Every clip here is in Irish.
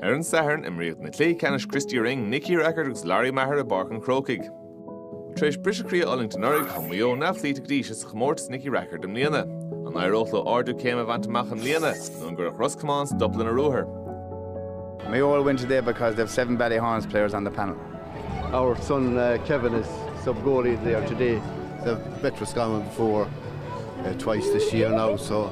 Ar an Satharn imríodh na cluichí ceannais Christy Ring, Nicky Rackard agus Lory Meagher i bPáirc an Chrócaigh. Tar éis briseadh croí a fhulaingt anuraidh, chuaigh Maigh Eo neamhchloíte go dtí seo sa chomórtas Nicky Rackard i mbliana. An éireodh leo ardú céime a bhaint amach i mbliana nó an gcuirfeadh Ros Comáin stop lena ruathar? Maigh Eo will win today because they have seven Ballyhaunis players on the panel. Our son uh, Kevin is sub goalie there today. They've met Roscommon before uh, twice this year now, so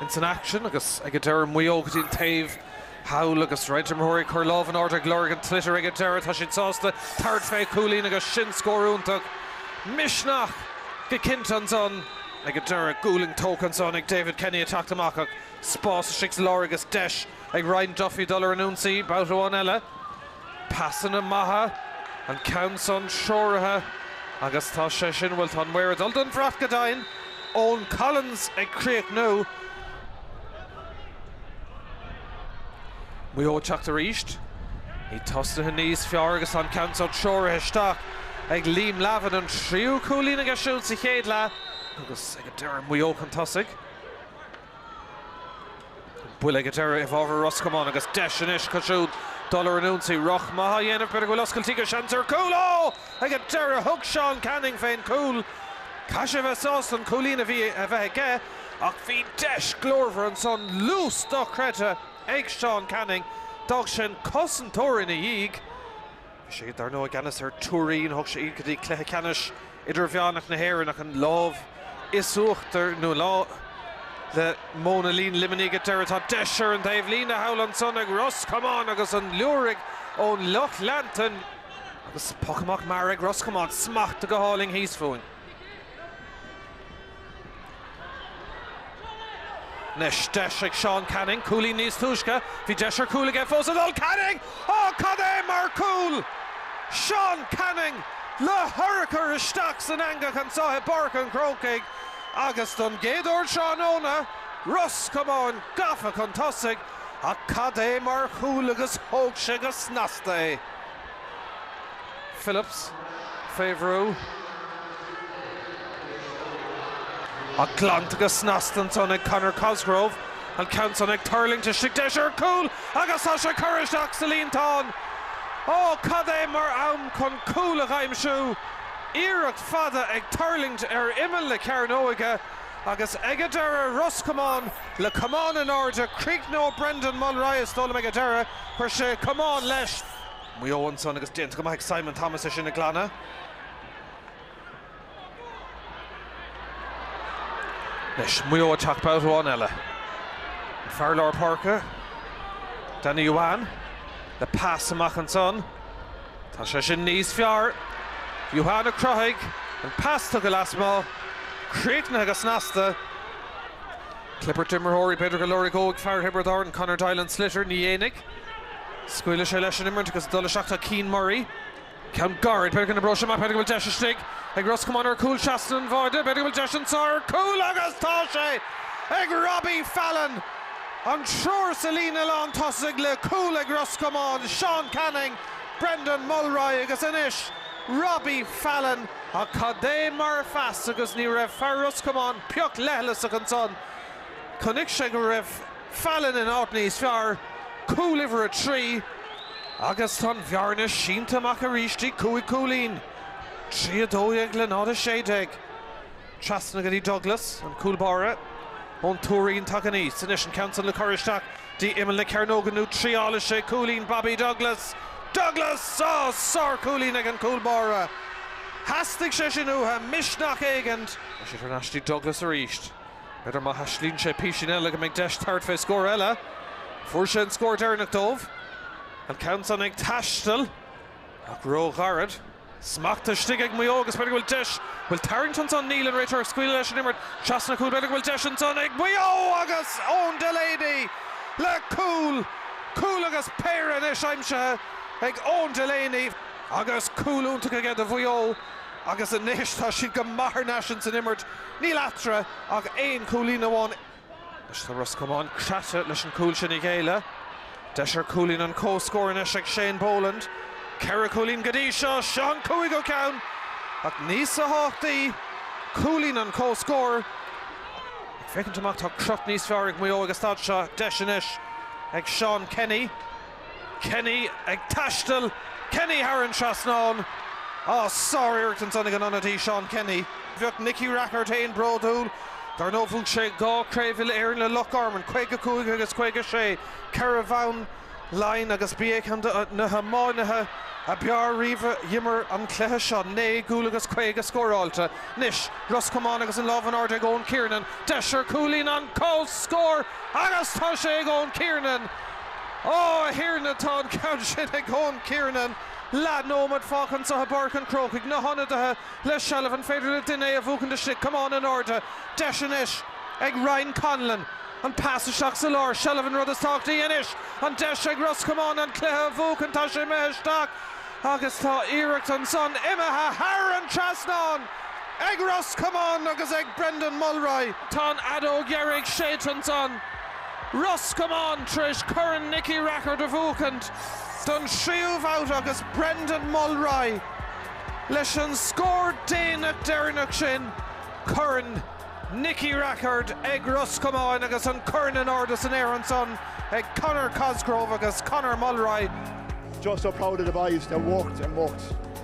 ins an aicsean agus ag an deireadh Maigh Eo go dtí an taobh thall agus roinnt imreoirí ag cur lámh in airde ag lorg an tsliotair ag an deireadh tá siad sásta tabhairt fé chúilín agus sin scór iontach misneach go cinnte ansan ag an deireadh cúilin tógtha ansan ag David Kenny ag teacht amach ach spás istigh sa lár agus deis ag Ryan Duffy dul ar an ionsaí babhta amháin eile. Pasanna maithe, an ceann san treoraithe agus tá sé sin, bhuel, tá an maor ag dul don bhrat go deimhin, Eoghan Collins ag críochnú. Maigh Eo ag teacht arís. Iad tosnaithe níos fearr agus tá an ceann san treoraithe isteach ag Liam Lavin, an tríú cúilín aige siúd sa chéad leath agus ag an deireadh Maigh Eo chun tosaigh. Bhuel ag an deireadh i bhfabhar Ros Comáin agus deis anois acu siúd dul ar an ionsaí. Rith maith á dhéanamh, b'fhéidir go bhfuil oscailt aige, seans ar chúl! Ó! Ag an deireadh thug Seán Canning fén gcúl. Caithfidh sé a bheith sásta an cúilín a bhí a bheith aige ach bhí deis glórmhar ansan luas dochreidte ag Seán Canning. D'fhág sé an cosantóir ina dhiaidh. Bhí sé dar ndóigh i gceannas ar Tuairín, thug sé iad go dtí cluiche ceannais idirmheánach na hÉireann ach an lámh is uachtar nó lá le Móin a' Lín Luimnigh ag a deireadh. Tá deis ar an dtaobhlíne thall ansan ag Ros Comáin agus an liúirigh ón lucht leanta. Agus poc amach mear ag Ros Comáin, smacht go hálainn thíos fúinn. Anois deis ag Seán Canning cúilín níos túisce. Bhí deis ar chúl aige fós ag dul. Canning! Ó cad é mar chúl! Seán Canning le hurchar isteach san eangach anseo i bPáirc an Chrócaigh agus don gcéad uair tráthnóna, Ros Comáin gafa chun tosaigh ach cad é mar chúl agus thóg sé go snasta é. Phillips fé bhrú, ach glanta go snasta ansan ag Conor Cosgrove. An ceann san ag tuirlingt istigh, deis ar chúl agus tá sé curtha isteach sa líontán. Ó, cad é mar am chun cúl a aimsiú! Iarracht fada ag tuirlingt ar imeall na cearnóige agus ag a deireadh Ros Comáin le camán in airde. Críochnú Brendan Mulry is dóigh liom ag a deireadh, chuir sé camán leis. Maigh Eo ansan agus déanta go maith ag Simon Thomas é sin a ghlanadh. Anois Maigh Eo ag teacht babhta amháin eile. An fear lár páirce, Danny Huane, le pas amach ansan. Tá sé sin níos fearr. Huane a chruthaigh an pas tugtha lasmuigh. Críochnaithe go snasta. Clibirt imreoirí, b'fhéidir go lorgóidh fear Thiobraid Árann, Conor Doyle an sliotar, ní dhéanfaidh. Scaoilfidh sé leis an imirt agus ag dul isteach tá Cian Murray. Ceann gairid, b'fhéidir go n-oibreoidh sé amach, b'fhéidir go bhfuil deis istigh ag Ros Comáin ar chúl seasta an bháide, b'fhéidir go bhfuil deis anseo ar chúl agus tá sé ag Robbie Fallon! An triúr sa líne lántosaigh le cúl ag Ros Comáin, Seán Canning, Brendan Mulry agus anois Robbie Fallon ach cad é mar phas agus ní raibh fear Ros Comáin pioc leithleasach ansan. Chonaic sé go raibh. Fallon in áit níos fearr, cúl uimhir a trí agus tá an bhearna sínte amach arís dtí cúig chúilín, 3 12 le 0 16. Trasna go dtí Douglas, an cúl báire ón Tuairín tagann aníos anois an ceann san le cur isteach dtí imeall na cearnóige nó triailfidh sé cúilín Bobby Douglas. Douglas! Á! Sárchúilín ag an cúl báire. Theastaigh sé sin uatha, misneach éigint! Sé thar n-ais dtí Douglas arís. B'fhéidir má thaistealaíonn sé písín eile go mbeidh deis tabhairt fé scór eile. Fuair sé an scór deireanach dóibh. An ceann san ag taisteal, ach ró-ghairid. Smacht istigh ag Maigh Eo agus b'fhéidir go bhfuil deis, bhuel tarraingt ansan, níl an réiteoir ag scaoileadh leis an imirt. Trasna an chúil, b'fhéidir go bhfuil deis ansan ag Maigh Eo agus Eoin Delaney le cúl! Cúl agus péire anois aimsithe ag Eoin Delaney agus cúl iontach aige do Mhaigh Eo. agus anois tá siad go maith thar n-ais ins an imirt. Níl eatarthu ach aon chúilín amháin. Anois tá Ros Comáin craite leis an cúl sin a ghéilleadh. Deis ar cúilín an comhscóir anois ag Shane Boland. Ceithre chúilín go dtí seo, seo an cúigiú ceann! Ach níosa thábhachtaí cúilín an comhscóir. Ag féachaint amach tá crot níos fearr ag Maigh Eo ag an staid seo. Deis anois ag Seán Kenny. Kenny ag taisteal, Kenny thar an trasnán, á, sár-iarracht ansan ag an ionadaí Seán Kenny. Bheadh Nicky Rackard féin bródúil. Dar ndóigh bhuaigh sé dhá Chraobh Uile-Éireann le Loch Garman, 55 agus 56, ceithre bhonn Laighin agus b'é ceann de na hiománaithe a b'fhearr riamh a d'imir an cluiche seo, naoi gcúl agus caoga scóráilte. Anois Ros Comáin agus an lámh in airde ag Eoin Kiernan, deis ar chúilín an comhscóir agus tá sé ag Eoin Kiernan! Ó, a Thiarna, tá an ceann sin ag Eoin Kiernan! Leath nóiméad fágtha anseo i bPáirc an Chrócaigh, na hionadaithe le seilbh, an féidir le duine é a bhuachaint istigh? Camán in airde, deis anois ag Ryan Connellan, an pas isteach sa lár, seilbh an rud is tábhachtaí anois, an deis ag Ros Comáin an cluiche a bhuachaint, tá sé imithe isteach agus tá iarracht ansan imithe thar an dtrasnán ag Ros Comáin agus ag Brendan Mulry. Tá an fheadóg dheiridh séidte ansan. Ros Comáin tar éis Corn Nicky Rackard a bhuachaint don tríú bhabht agus Brendan Mulry leis an scór déanach deireanach sin Corn Nicky Rackard ag Ros Comáin agus an corn in airde san aer ansan ag Conor Cosgrove agus Conor Mulry. Just so proud of the boys, they worked and worked.